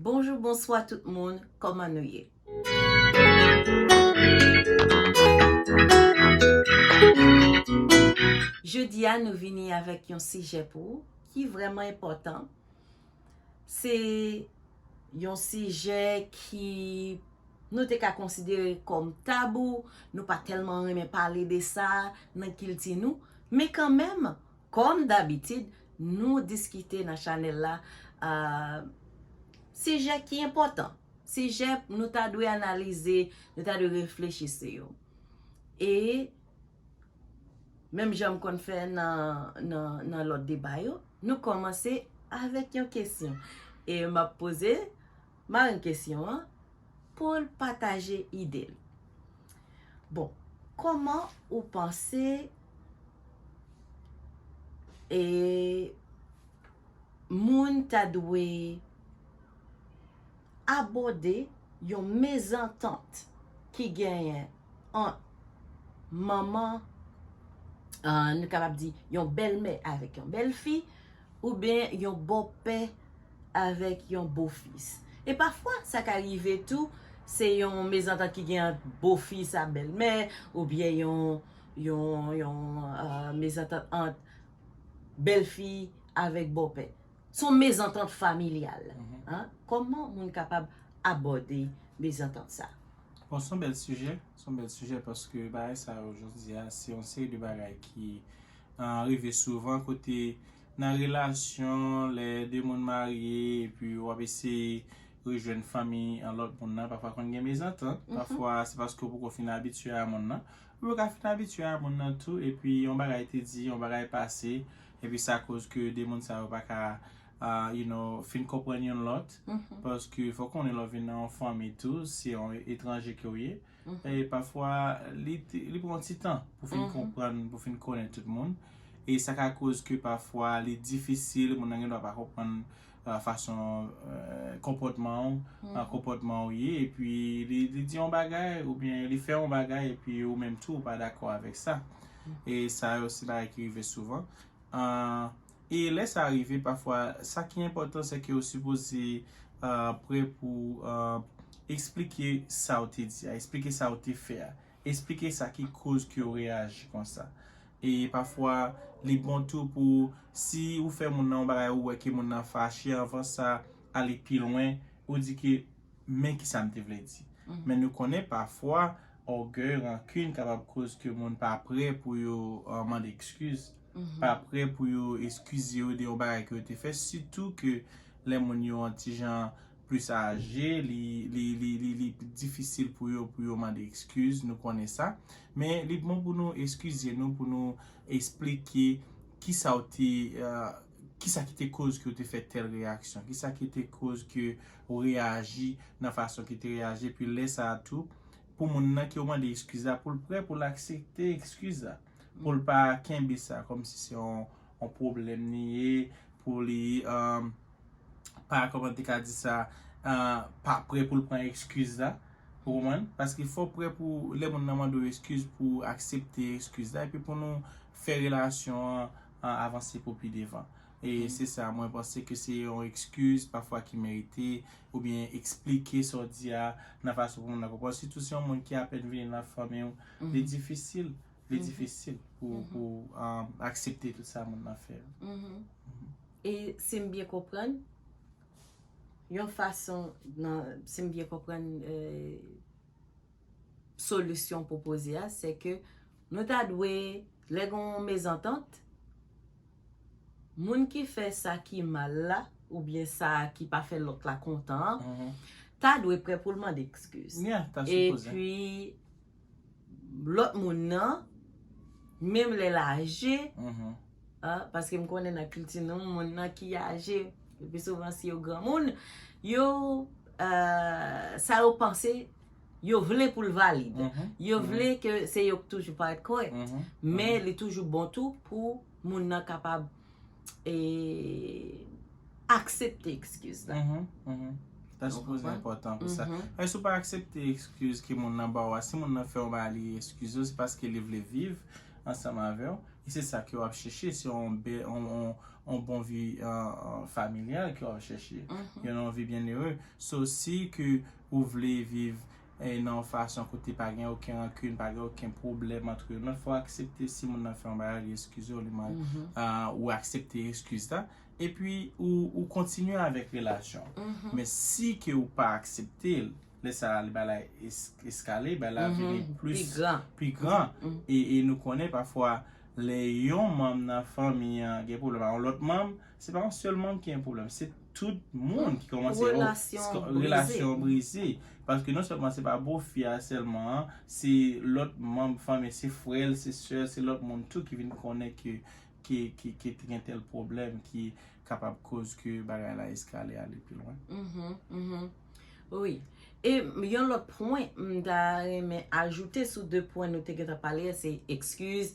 Bonjou bonswa tout moun kòman nou ye. Jodi a nou vini avèk yon sijè pou ou ki vrèman enpòtan. Se yon sijè ki nou te ka konsidere kòm tabou, nou pa tèlman renmen pale de sa nan kilti nou, men kanmèm Kòm dabitid, nou diskite nan chanèl la sijè ki enpòtan, sijè nou ta dwe analize, nou ta dwe reflechi sou yo. E, menm jan m konn fè nan lòt deba yo, nou kòmanse avèk yon kesyon. E m ap poze. Marenn kesyon an pou l pataje ide l. Bon, kòman ou panse e moun ta dwe abòde yon mezantant ki genyen ant manman, nou kapab di yon bèlmè avèk yon bèlfi? Oubyen yon bòpè avèk yon bofis. E pafwa sa ka rive tou se yon mezantant ki gen ant bofis a bèlmè oubyen yon mezantant ant bèlfi avèk bòpè. Se yon mezantant familyal. Kòman moun kapab abòde mezantant sa? Bon se yon bèl sijè, se yon bèl sijè paske bagay sa yo jodi a se yon seri de bagay ki rive souvan kote nan relasyon lè 2 moun marye epi wap eseye rejwenn fanmi lòt moun nan pafwa konn gen mezantant pafwa se paske ou poko fin abitye a moun nan ou yo ka fin abitye a moun nan tou epi yon bagay te di yon bagay pase epi sa koz ke 2 moun sa yo paka you know fin konprann youn lòt paske fòk konnen lè ou vin nan yon fanmi tou se yon etranje ke ou ye. E pafwa li pran yon ti tan pou fin konprann, pou fin konnen tout moun. E sa ka koz ke pafwa li difisil, moun nan gen dwa pa konprann fason konpòtman ou, nan konpòtman ou ye. E pi li di yon bagay, ou byen li fè yon bagay, e pi ou menm tou ou pa dakò avèk sa. E sa yo se bagay ki rive souvan. E lè sa rive pafwa sa ki enpòtan se ke ou sipoze prè pou esplike sa ou te di a, esplike sa ou te fè a, esplike sa ki koz ke ou reyaji konsa. E pafwa li bon tou pou si ou fè moun nan yon bagay ou wè ke moun nan fache anvan sa ale pi lwen ou di ke men kisa m te vle di. Men nou konnen pafwa ògèy, rankin kapab koz ke moun pa prè pou yo mande ekskiz. pa prè pou yo eskize yo de yon bagay ke yo te fè, sitou ke lè moun yo yon ti jan plis aje, li pi difisil pou yo pou yo mande eskiz, nou konnen sa. Men li bon pou nou eskize nou, pou nou esplike ki sa ou te, ki sa ki te koz ke ou te fè tèl reyaksyon, ki sa ki te koz ke ou reyaji nan fason ke te reyaji, epi lè sa a tou, pou moun nan ke ou mande eskiz la, pou l prè pou l aksepte eskiz la. Pou l pa kenbe sa kòm si se yon pwoblèm li ye, pou li pa, kòman m te ka di sa, pa prè pou l pran ekskiz la. Ou konprann? Paske fò w prè pou lè moun nan mande w ekskiz pou w aksepte ekskiz la epi pou nou fè relasyon an avanse pou pi devan. E se sa mwen panse ke se yon ekskiz pafwa ki merite oubyen eksplike sa w di a nan fason pou moun nan konprann. Sitou se yon moun ki apèn vini nan fanmi w. Li difisil, li difisil pou pou aksepte tout sa moun nan fè yo. E si m byen konprann, yon fason nan, si m byen konprann solisyon w pwopoze a, se ke nou ta dwe, lè gen yon mezantant, moun ki fè sa ki mal la oubyen sa ki pa fè lòt la kontan an, ta dwe prè pou l mande ekskiz. Epi, lòt moun nan, menm lè l aje, paske m konnen nan kilti nou, moun nan ki aje, le pi souvan si yo granmoun, yo, sa yo panse, Yo vle pou l valid. Yo vle ke se yo k toujou pa rèt korèk. Men li toujou bon tou pou moun nan kapab e aksepte ekskiz la. Sa sou poze enpòtan pou sa. Paske si w pa aksepte ekskiz ke moun nan ba w a, si moun nan fè yon bagay li ekskize w, se paske li vle viv ansanm avè w. E se sa ke w ap chèche, se yon bon vi familyal ke w ap chèche. Yon vi byennere. So si ke. ou vle viv nan yon fason kote pa gen oken rankin, pa gen oken pwoblèm antre nou, fò aksepte si moun nan fè yon bagay li eskize w li mal, ou aksepte eskiz la, epi ou kontinye avèk relasyon an. Men si ke ou pa aksepte l, lè sa a li ba la eskale, ba la vini plis, pi gran, e nou konnen pafwa lè yon manm nan fanmi an gen pwoblèm ak yon lòt manm, Se pa yon sèl moun ki gen pwoblèm, se tout moun ki kòmanse yo. Relasyon brize. Kòmanse relasyon brize. Paske non sèlman se pa bofi a sèlman an, se lòt manm fanmi, se frè l, se sè l, se lòt moun tou ki vin konnen ke te gen tèl pwoblèm ki kapab koz ke bagay la eskale ale pi lwen. Wi. E yon lòt pwen m ta renmen ajoute sou de pwen nou te gentan pale a se ekskiz.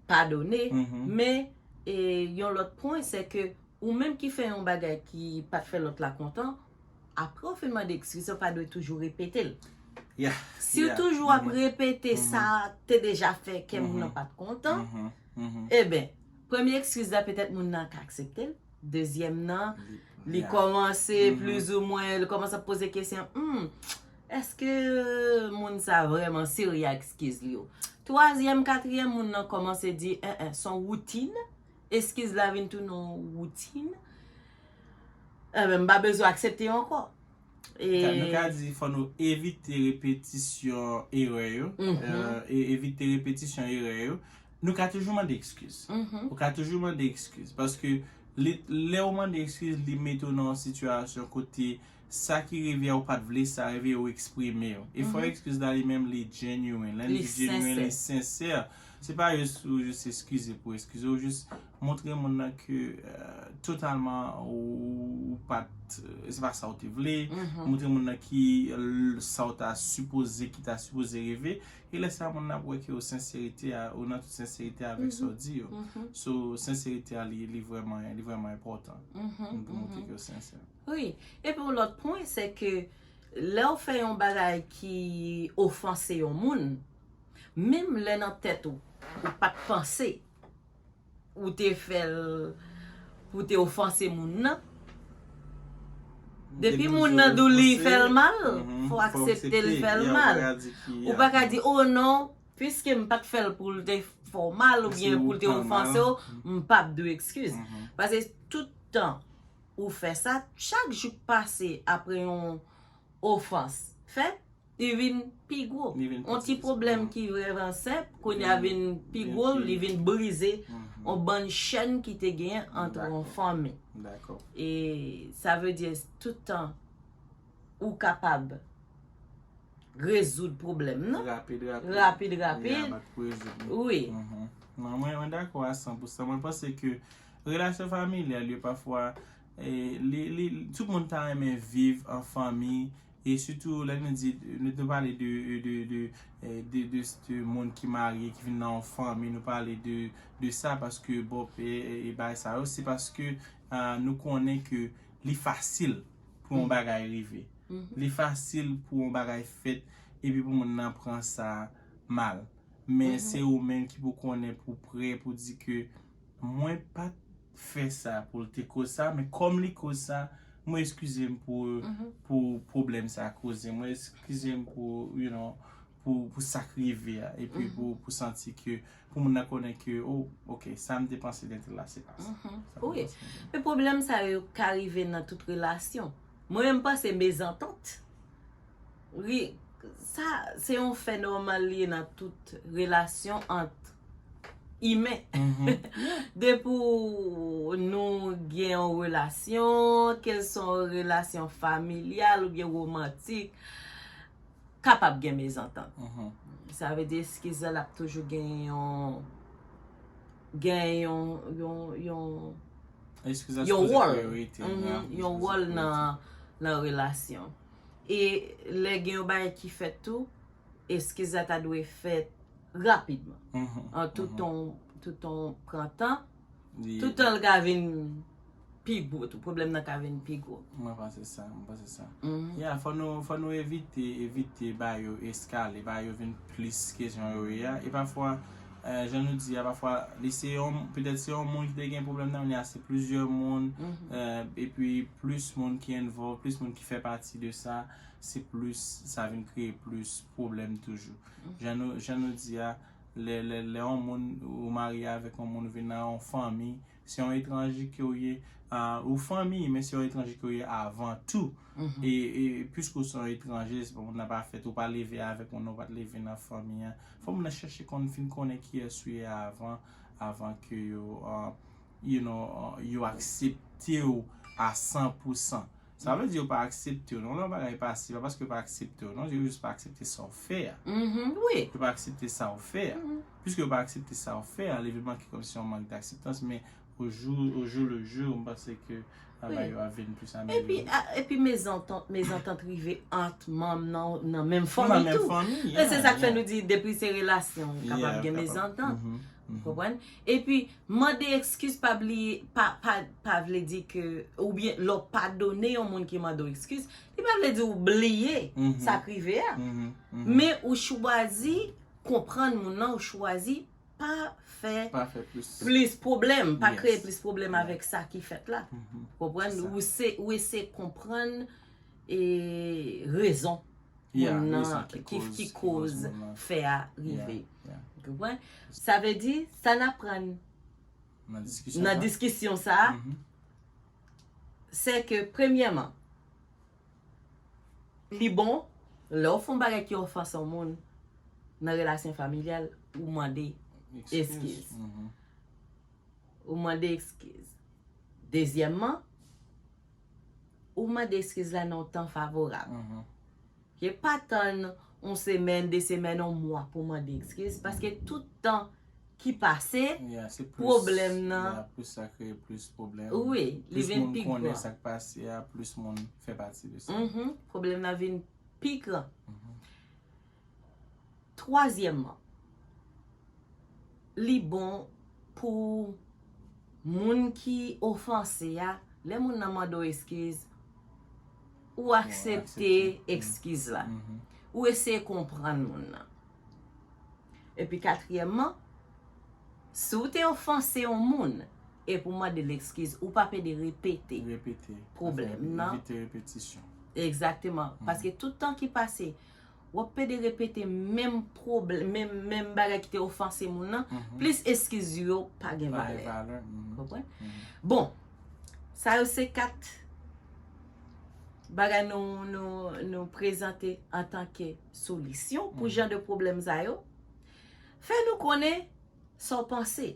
padone men yon lòt pwen se ke ou menm ki fè yon bagay ki pat fè lòt la kontan apre ou fin mande ekskiz ou pa dwe toujou repete l si ou toujou ap repete sa te deja fè kè moun nan pat kontan eben premye ekskiz la petèt moun nan ka aksepte l dezyèm nan li kòmanse plizoumwen li kòmanse ap poze kesyon humm Eske moun sa vreman serye ak skiz li yo. Twazyèm katriyèm moun nan komanse di en en son woutin e skiz la vin tounen yon woutin enben m pa bezwen aksepte yo anko. Nou ka di fò nou evite repetisyon erè yo evite repetisyon erè yo nou ka toujou mande ekskiz ou ka toujou mande ekskiz paske lè ou mande ekskiz li mete ou nan yon sitiyasyon kote Sa ki rivyè ou pat vle sa rive ou eksprime yo. Efò ekskiz la li menm li genuine. Lè n di genuine li sincère. Se pa jis ou jis eskize pou eskize ou jis montre moun nan ke totalman ou pat se pa sa ou te vle. Montre moun nan ki sa ou ta sipoze ki ta sipoze rive. E lè sa moun nan ap wè ke ou senserite a ou nan tout senserite avèk sa ou di yo. So senserite a li vrèman enpòtan pou montre ke ou sensè. Wi, epi yon lòt pwen se ke lè ou fè yon bagay ki ofanse yon moun, menm lè nan tèt ou, ou pa t panse ou te fè l pou w te ofanse moun nan, depi moun nan di w li fè l mal, fò w aksepte l fè l mal. Ou pa ka di, o non, piske m pa t fè l pou l te fè w mal oubyen pou l te ofanse w, m pap di w ekskiz. Pase tout tan ou fè sa, chak jou k pase apre yon ofans fèt, li vin pi gwo. Yon ti pwoblèm ki vrèman senp, kounye a vin pi gwo, li vin brize yon bann chèn ki te gen antre yon fanmi. E sa vle di tout tan ou kapab rezoud pwoblèm nan. Rapid, rapid. Rapid, rapid. Mwen dakò a 100 pou 100. Mwen panse ke Relasyon familyal yo pafwa li tout moun ta renmen viv an fanmi e sitou lè nou di nou te pale de de moun ki marye ki vin nan yon fanmi nou pale de sa paske bon e bagay sa yo se paske nou konnen ke li fasil pou yon bagay rive li fasil pou yon bagay fèt epi pou moun nan pran sa mal men se ou menm ki pou konnen pou prè pou di ke Mwen pat fè sa poul te koz sa men kòm li koz sa mwen eskizem pou pwoblèm sa koze mwen eskizem pou you know pou sak rive a epi pou santi ke pou moun nan konnen ke oh ok sam te panse de tel la se pa sa wi men pwoblèm sa yo ka rive nan tout relasyon mwen menm panse mezantant. Ri, sa se yon fè nòmal li ye nan tout relasyon ant imen. Depi w nou gen yon relasyon, kèlswa yon relasyon familyal oubyen womantik, kapab gen mezantant. Sa vle di eskiz la l ap toujou gen yon, gen yon, yon, yon, yon wòl, yon wòl nan relasyon. E lè gen yon bagay ki fèt tou, eskiz la ta dwe fèt rapidman. An toutan, toutan pran tan, toutan l ka vin pi gwo tou, pwoblèm nan ka vin pi gwo. Mwen panse sa, mwen panse sa. Ya, fò nou, fò nou evite, evite ba yo eskale, ba yo vin plis ke jan yo ye a. E pafwa. jan nou di a pafwa li se yon petèt se yon moun ki te gen pwoblèm nan men la se plizyè moun epi plis moun ki envòlv plis moun ki fè pati de sa se plis sa vin kreye plis pwoblèm toujou jan nou jan nou di a lè lè yon moun ou marye avèk yon moun ou vin nan yon fanmi se yon etranje ke ou ye, ou fanmi, men se yon etranje ke ou ye avan tou. E, e, pwiske ou se yon etranje, se pa moun nan pa fèt, ou pa leve avèk moun nan, ou pa te leve nan fanmi an, fò moun nan chèche konn, fin konnen kiyès ou ye avan, avan ke yo, you know, yo aksepte ou a san pou san. Sa vle di yo pa aksepte w non lè yon bagay pa si pa paske yo pa aksepte w non yo jis pa aksepte sa w fè a yo pa aksepte sa w fè a piske yo pa aksepte sa w fè a leve manke kòmsi yon mank dakseptans men o jou le jou m panse ke bagay yo ap vin plis amelyore epi mezantant rive ant manm nan menm fanmi tou se sa k fè nou di depi se relasyon kapab gen mezantant epi Mande ekskiz pa bliye pa pa pa vle di ke oubyen lè w padone yon moun ki mande w ekskiz, li pa vle di ou bliye sa k rive a. Men ou chwazi konprann moun lan, ou chwazi pa fè plis pwoblèm, pa kreye plis pwoblèm avèk sa ki fèt la. Ou konprann? Ou eseye konprann rezon. moun nan ki koz fè a rive sa vle di sa n aprann nan diskisyon sa se ke premyeman li bon lè w fon bagay ki ofanse yon moun nan relasyon familyal ou mande eskiz ou mande eskiz dezyèmman Ou mande eskiz la nan yon tan favorab. Ke pa tann yon semèn, de semèn, yon mwa pou mande eskiz. Paske tout tan ki pase, pwoblèm nan. Ya, se plis, plis sa kreye plis pwoblèm. Wi, li vin pi gran. Plis moun konnen sa k pase a, plis moun fè pati de sa. Pwoblèm nan vin pi gran. Twazyèmman, li bon pou moun ki ofanse a, lè moun nan mande w eskiz, ou aksepte ekskiz la. Ou eseye konprann moun nan. Epi katriyèmman, si w te ofanse yon moun, epi w mande l ekskiz, ou p ap ede repete pwoblèm nan. Repete, evite repetisyon. Egzakteman. Paske tout tan ki pase, Wap pede repete menm pwoblm menm menm bagay ki te ofanse moun nan plis eskiz yo pa gen valè. Konprann? Bon sa yo se 4 bagay nou nou nou prezante antanke solisyon pou jan de pwoblèm sa yo. Fè nou konnen sa w panse.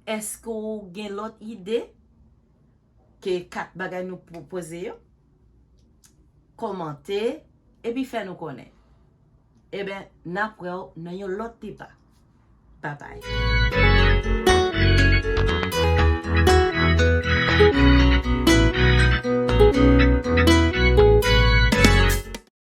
Eske w gen lòt ide? Ke 4 bagay nou pwopoze yo. Komante epi fè nou konnen. Eben nap wèw nan yon lòt deba. Babay.